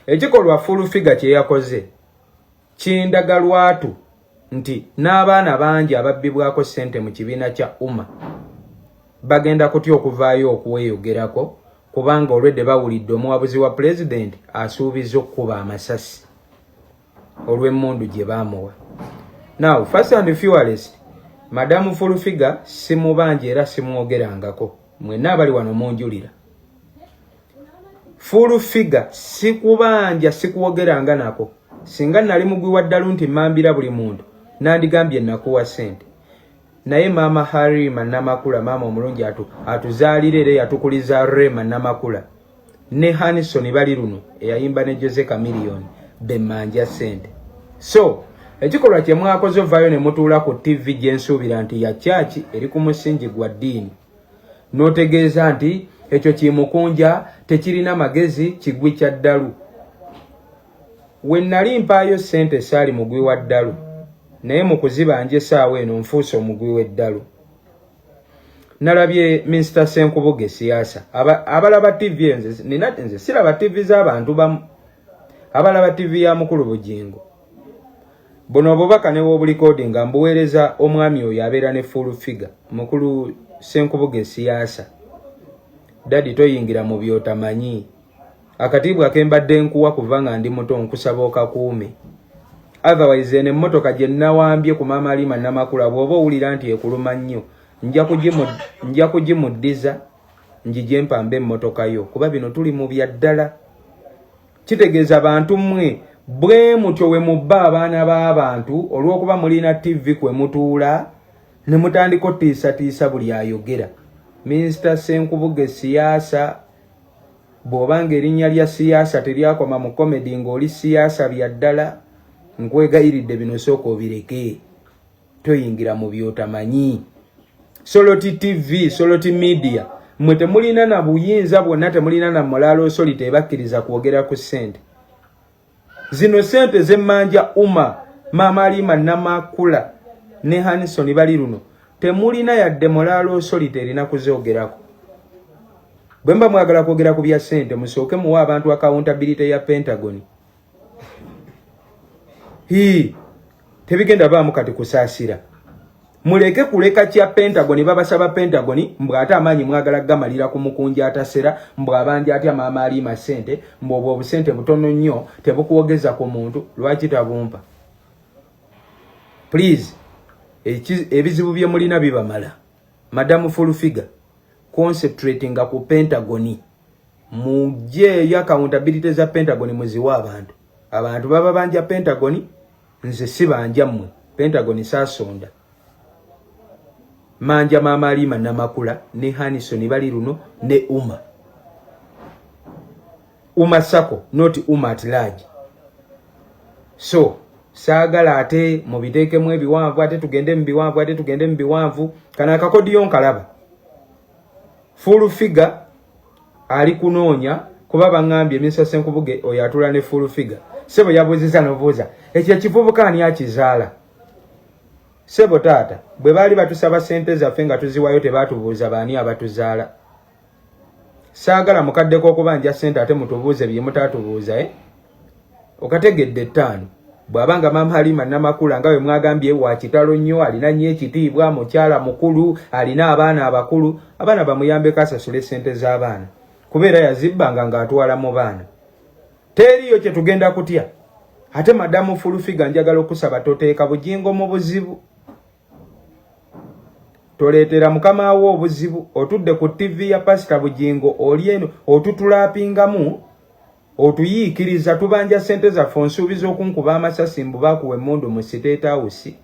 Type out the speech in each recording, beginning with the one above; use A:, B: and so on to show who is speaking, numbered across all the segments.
A: Ekikolwa full figure kye yakoze kindaga lwatu nti n'abaana bangi ababbibwako ssente mu kibiina kya UMA bagenda kutya okuvaayo okuweyogerako kubanga olwedde bawulidde omuwabuzi wa pulezidenti asuubiza okukuba amasasi olw'emmundu gye baamuwa now first and fewalest madamu fulfiga simubanja era simwogerangako mwenna abali wano munjulira Full figure sikubanja sikuwogeranga nako singa nali mugwi wa ddalu nti mambira buli muntu nandigambye nakuwa sente naye maama harima namakula maama omulungi atu atuzaalira era yatukuliza rema namakula ne hanison bali luno eyayimba ne jose camilion bemanja sente so ekikolwa kyemwakoze ovaayo ne mutuula ku tv gyensuubira nti ya kyaki eri ku musingi gwa ddiini n'otegeeza nti ekyo kimukunja tekirina magezi kigwi kya ddalu we nnali mpaayo ssente saali mugwi wa ddalu naye mu kuzibanja essaawa eno nfuuse omugwi w'eddalu nalabye minsita senkubuga esiyaasa abalaba ttivi enze nina nze siraba ttivi z'abantu bamu abalaba ttivi ya mukulu bugingo Buno obubaka ne w'obulikodinga mbuweereza omwami oyo abeera ne full figure mukulu Ssenkubuga esiyaasa. Dadi toyingira mu by'otamanyi. Akatiibwa ke mbadde nkuwa kuva nga ndi muto nkusaba okakuume. Otherwise eno emmotoka gye nnawambye ku maama Alima Namakula bw'oba owulira nti ekuluma nnyo nja kugimuddiza ngigye mpambe emmotoka yo kuba bino tuli mu bya ddala. kitegeeza bantu mmwe bwe mutyo we mubba abaana b'abantu olw'okuba mulina ttivi kwe mutuula ne mutandika otiisatiisa buli ayogera minisita senkubuga esiyaasa bw'oba ng'erinnya lya siyaasa teryakoma mu komedi ng'oli siyaasa bya ddala nkwegayiridde bino sooka obireke toyingira mu byotamanyi soloti tv soloti media mwe temulina na buyinza bwonna temulina na mulaalo osoli tebakkiriza kwogera ku ssente zino ssente zemmanja uma maama alima namakula ne hanisoni bali luno temulina yadde mulaalo osoli terina kuzoogerako bwe mba mwagala kwogera ku bya ssente musooke muwa abantu akawuntabilite ya pentagoni hii tebigenda baamu kati kusaasira muleke kuleka kya pentagon babasaba pentagon mbwa ate amaanyi mwagala gamalira ku mukunja atasera mbwa abandi atya maama aliima sente mbwa obwo obusente butono nnyo tebukwogeza ku muntu lwaki tabumpa please ebizibu bye mulina bibamala Madam Full Figure, concentrate nga ku Pentagoni. Muje ya accountability za Pentagoni muziwa abantu. Abantu baba banja Pentagoni, nze si banja mwe. Pentagoni sasonda. Manja mama alima na makula, ne Hanison bali runo, ne Uma. Uma Sako not Uma at large. So saagala ate mubiteekemu ebiwanvu ate tugende mu biwanvu ate tugende mu biwanvu kana akakodiyo nkalaba full figure ali kunoonya kuba baŋambye minsa senkubuge oyo atula ne full figure sebo yabuuziza nobuuza ekyo ekivubuka ani akizaala sebo taata bwe baali batusaba sente zaffe nga tuziwayo tebaatubuuza baani abatuzaala saagala mukadde k'okubanja ssente ate mutubuuze bye mutaatubuuza e okategedde ettaano bw'aba nga maama halima namakula nga bwe mwagambye wa kitalo nnyo alina nnyo ekitiibwa mukyala mukulu alina abaana abakulu abaana bamuyambeko asasula essente z'abaana kuba era yazibbanga ng'atwala mu baana teriyo kye tugenda kutya ate madamu fulufiga njagala okusaba toteeka bugingo mu buzibu toleetera mukama wo obuzibu otudde ku ttivi ya pasita bugingo oli eno otutulapingamu otuyiikiriza tubanja ssente zaffe onsuubiza okunkuba amasasi mbu baakuwa emmundu mu siteetawusi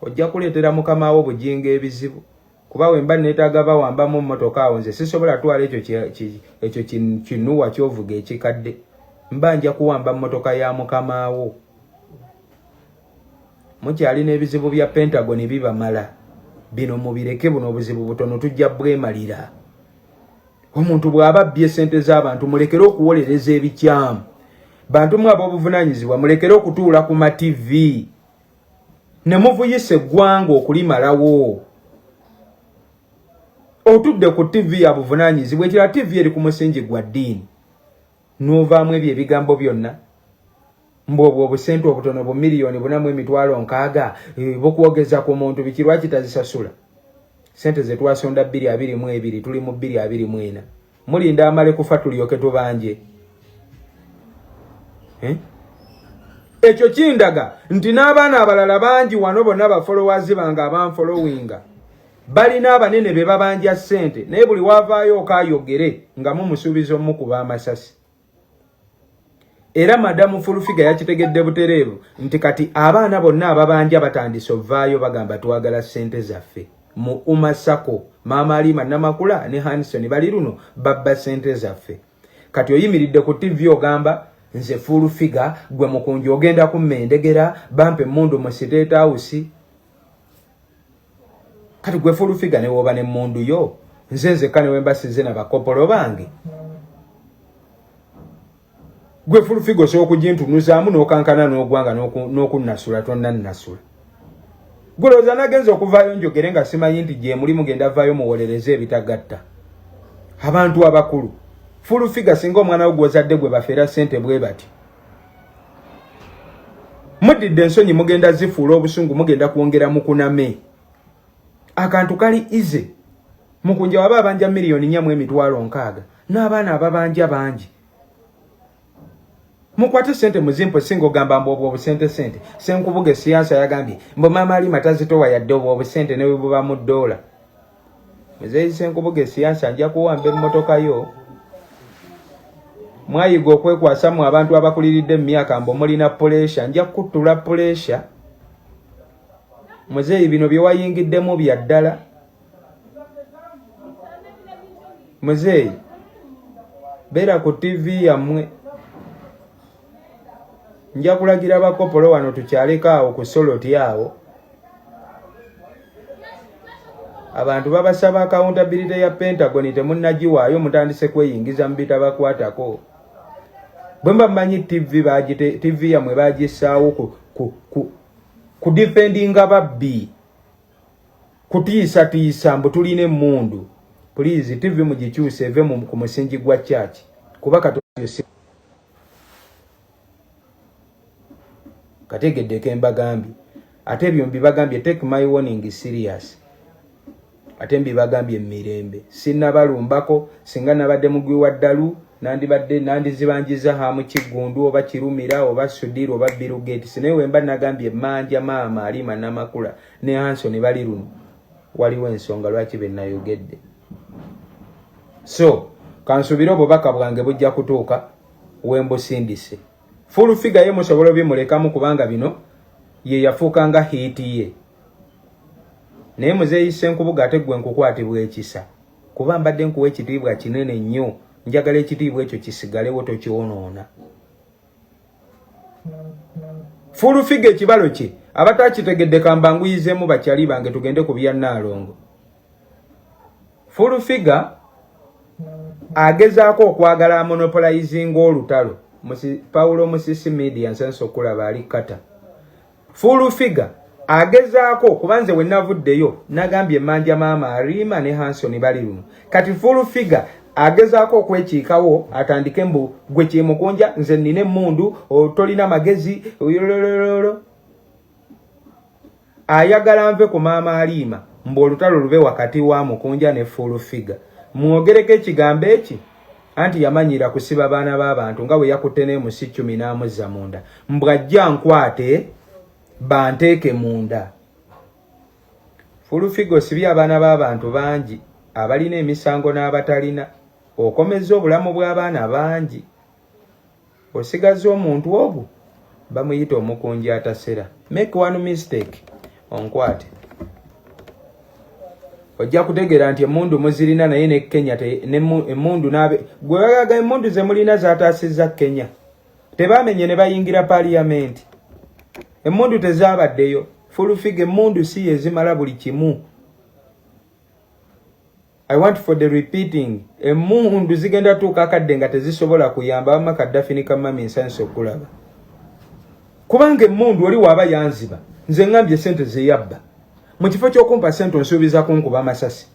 A: ojja kuleetera mukama wo bugingo ebizibu kuba wemba neetaaga bawambamu mmotoka awo nze sisobola twala ekyo ekyo kinuwa kyovuga ekikadde mba nja kuwamba mmotoka ya mukamaawo mukyali n'ebizibu bya pentagon bibamala bino mubireke buno obuzibu butono tujja bwemalira omuntu bw'aba abbye ssente z'abantu mulekere okuwolereza ebikyamu bantu mwe ab'obuvunanyizibwa mulekere okutuula ku mativi ne muvuyisa eggwanga okulimalawo otudde ku ttivi ya buvunaanyizibwa ekira ttivi eri ku musingi gwa ddiini n'ovaamu ebyo ebigambo byonna mbu obwo obusente obutono bu miliyoni bunamu emitwalo nkaaga eh, bukwogeza ku muntu biki lwaki tazisasula sente zetwasonda bbiri abiri mu ebiri tuli mu bbiri abiri mu ena mulinda amale kufa tulyoke tubanje eh? ekyo kindaga nti n'abaana abalala bangi wano bonna bafolowazi bange abanfolowinga balina abanene be babanja ssente naye buli waavaayo okaayogere nga mumusuubiza omukuba amasasi era madamu fulufiga yakitegedde butereevu nti kati abaana bonna ababanja batandise ovaayo bagamba twagala ssente zaffe mu uma sako maama aliima namakula ne hanson bali luno babba ssente zaffe kati oyimiridde ku tivi ogamba nze fulufiga gwe mukunji ogenda kumma endegera bampa emmundu mu siteetawusi kati gwe full figure ne woba ne mundu yo nze nze kane wemba size na bakopolo bange gwe full figure so okujintu nuzamu no kankana no gwanga no no kunasula tonna nasula guloza nagenza okuvayo njo gerenga sima yindi je muli mugenda vayo muwoleleze ebitagatta abantu abakulu full figure singo mwana ogwozadde gwe bafera sente bwe bati mudidde ensonyi mugenda zifuula obusungu mugenda kwongera mukuname akantu kali ize mukunja waba abanja miliyoni nya mu emitwalo nkaaga n'abaana ababanja bangi mukwate sente muzimpo singa ogamba mbu obwo obusente sente senkubuga esiyansa yagambye mbu maama ali matazitowa yadde obwo obusente newebuba mu doola Muzeeyi Senkubuge siyansi ajja kuwamba emmotoka yo. Mwayiga okwekwasa mu abantu abakuliridde mu myaka mbu mulina puleesha, nja kukuttula puleesha. Muzeeyi bino bye wayingiddemu bya ddala. Muzeeyi beera ku ttivi yammwe. nja kulagira bakopolo wano tukyaleko awo ku soloti awo abantu babasaba akawuntabirite ya pentagon temunnagiwaayo mutandise kweyingiza mu bitabakwatako bwe mba mmanyi ttivi bagite ttivi yamwe bagissaawo ku, ku, ku, ku difendinga babbi kutiisatiisa mbu tulina emmundu puliizi ttivi mugikyuse eve ku musingi gwa kyaki kuba katonda kategedde kembagambye ate ebyo mbibagambye take my warning serious ate mbibagambye mumirembe sinabalumbako singa nabadde mugwi wa ddalu nandibadde nandizibanjiza hamu kiggundu oba kirumira oba sudiru oba birugates naye wemba nagambye manja maama alima namakula ne hanso ne bali luno waliwo ensonga lwaki benayogedde so kansuubire obubaka bwange bujja kutuuka wembusindise full figure ye musobola obimulekamu kubanga bino ye yafuuka nga hiiti ye naye muzeeyi senkubuga ate gwe nkukwatibwa ekisa kuba mbadde nkuwa ekitiibwa kinene nnyo njagala ekitiibwa ekyo kisigalewo tokyonoona fulufiga ekibalo kye abatakitegedde kambanguyizemu bakyali bange tugende ku bya naalongo fulufiga agezaako okwagala amonopolayizinga olutalo paulo musisi media nsensa okulaba ali kata Full figure agezaako kuba nze wenavuddeyo nagambye manja maama arima ne hanson bali luno kati full figure agezaako okwekiikawo atandike mbu gwe kyemukunja nze nina emundu tolina magezi yolololo ayagala nve ku maama aliima mbu olutalo lube wakati wa mukunja ne full figure mwogereko ekigambo eki anti yamanyiira kusiba baana b'abantu nga bwe yakutte n'emusi cumi n'amuzza munda mbw'ajja nkwate banteeke munda fulufiga osibye abaana b'abantu bangi abalina emisango n'abatalina okomezza obulamu bw'abaana bangi osigaza omuntu ogu bamuyita omukunja atasera make one mistake onkwate ojja kutegeera nti emundu muzirina naye ne kenya emundu nabe gwewagaga emundu zemulina zataasiza kenya tebamenye ne bayingira paliyamenti emundu tezabaddeyo fulufiga emundu si yezimala buli kimu I want for the repeating emundu zigenda tuuka akadde nga tezisobola kuyamba wamma kaddafi ne kamami nsansi okulaba kubanga emundu oli waaba yanziba nze ngambye sente zeyabba mu kifo ky'okumpa sente onsuubiza kunkuba amasasi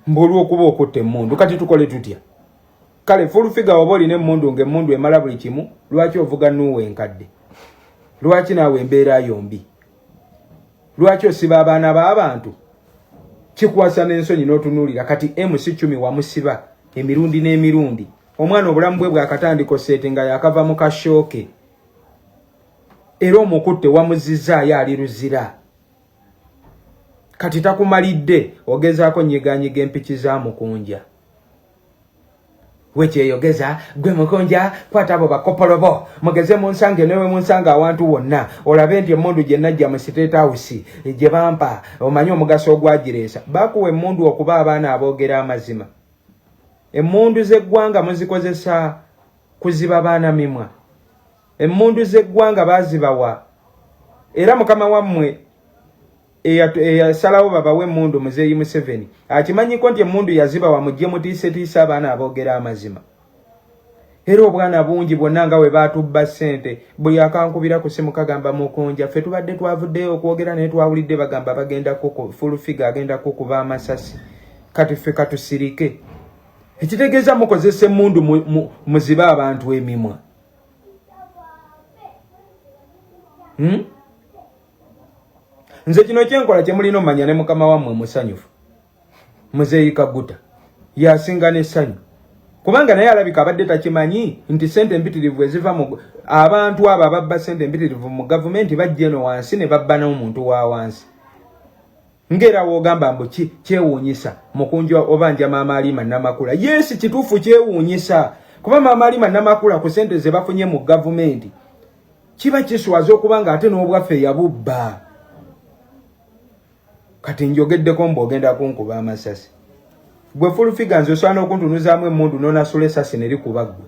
A: mbu olwokuba okutta emundu kati tukole tutya kale fulufiga waba olina emundu nga emundu emala buli kimu lwaki ovuga nuuwa enkadde lwaki naawe embeera yombi lwaki osiba abaana b'abantu kikwasa n'ensonyi n'otunuulira kati mc cumi wamusiba emirundi n'emirundi omwana obulamu bwe bwakatandika oseete nga yakava mu kashooke era omukutte wamuzizzaayo ali luzira kati takumalidde ogezaako nyiganyiga empiki za mukunja wekyeyogeza gwe mukunja kwata abo bakopolobo mugeze munsange newe munsanga awantu wonna olabe nti emundu gyenajja mu state house gye bampa omanye omugaso ogwagireesa bakuwa emundu okuba abaana aboogera amazima emundu zeggwanga muzikozesa kuziba baana mimwa emundu zeggwanga bazibawa era mukama wammwe eyasalawo babawe emundu muzeeyi museveni akimanyiko nti emundu yazibawa mujje mutiisetiisa abaana aboogera amazima era obwana bungi bwonna nga we baatubba ssente buli akankubira ku simu kagamba mukunja ffe tubadde twavuddeyo okwogera naye twawulidde bagamba bagenda fulfiga agenda kukuba amasasi kati ffe katusirike ekitegeeza mukozesa emundu muzibe abantu emimwa hmm? nze kino kyenkola kyemulina omanya ne mukama wammwe musanyufu muzeeyi kaguta yasinga n'essanyu kubanga naye alabika abadde takimanyi nti sente empitirivu eziva mu abantu abo ababba sente empitirivu mu gavumenti bajja eno wansi ne babba n'omuntu wa wansi ng'era w'ogamba mbu kyewuunyisa mukunja oba nja maama alima namakula yesi kituufu kyewuunyisa kuba maama alima namakula ku sente ze bafunye mu gavumenti kiba kiswaza okuba nga ate n'obwaffe yabubba kati njogeddeko mbu ogenda kunkuba amasasi gwe fulufiga nze osobola n'okuntunuzaamu emundu n'onasula esasi ne likuba ggwe